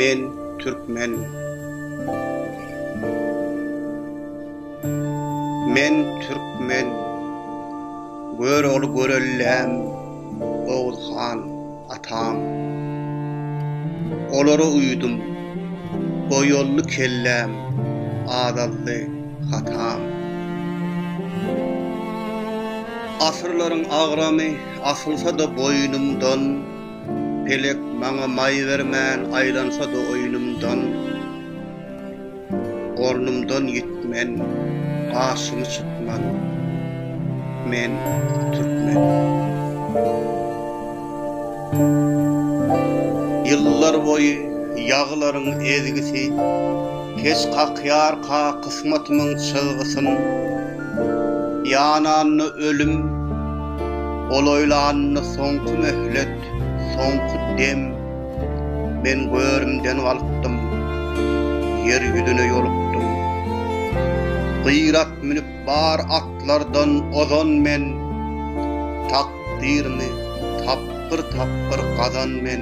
Men türkmen. Men türkmen. Görogly Görelläm, Oguz han, atam. Olara uýdum. Goýolly kelläm, azaldy hatam. Asyrlaryň agramy. Asylsa-da boýnumdan, Pelek maňa maý bermän Aýlansa-da oýnumdan, Ornumdan ýitmen, Gaşymy çytman, Men, türkmen. Ýyllar boýy ýagylaryň ezgisi, Keç kakýarka kysmatymyň çyzgysyn. Ýananda ölüm, olaýlanda soňky möhlet, soňky dem, men görümden galkdym, ýer ýüzüne ýolukdym. Gyrat münüp bar atlardan ozan men, takdyrymy tapgyr-tapgyr gazan men.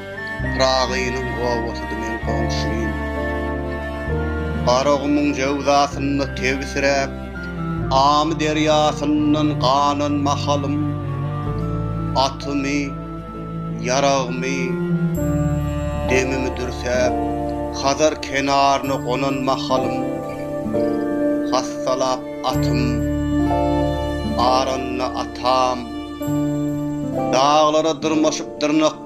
Pyragynyň obasydy meň goňşym. Garagumuň jöwzasynda tebsiräp, Amy derýasyndan ganan mahalym, Atymy, ýaragmy, demimi dürsäp, Hazar kenaryna gonan mahalym, Hassalap atym, aranda atam, Daglara dyrmaşyp dyrnak.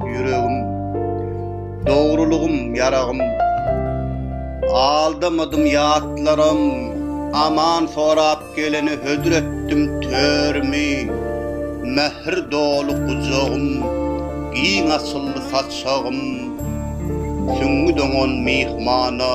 Ýüregim, dogrulygym, ýaragym, Aldamadym ýatlaram, Aman sorap geleni hödür etdim törümi, Mähir doly gujagym, giň açyldy saçagym, Süňňi doňan myhmana.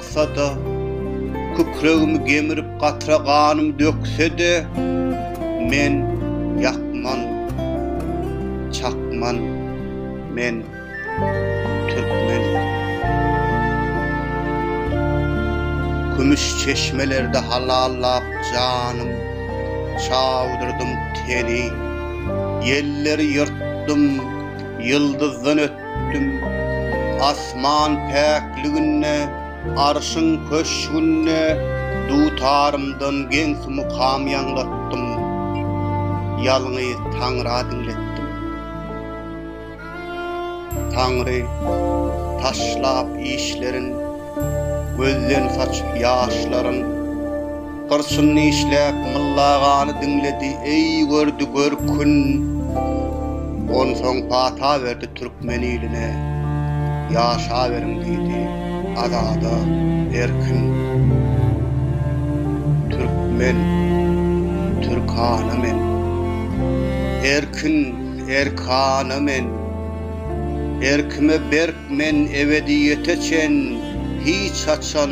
Çyksa-da, kükregimi gemirip gatra ganym dökse-de, men ýakman, çakman, men türkmen. Kümüş çeşmelerde halallap janym, çawdyrdym teni, ýelleri ýyrtdym, ýyldyzdan ötdüm. Düm, asman päkliginde, Arşyň köşgünde Dutarymdan geňsi mukam ýaňlatdym. Ýalňyz Taňra diňletdim. Taňry, taşlap işlerin, Gözden saçyp ýaşlaryn, Gyrçyn nişläp Myllagany diňledi, eý, gördi görkün. Onsoň pata berdi türkmen iline, Ýaşaberiň diýdi, azada, erkin. Türkmen, türkana men. Erkin, erkana men. Erkime berk men ebediýete çen, hiç haçan.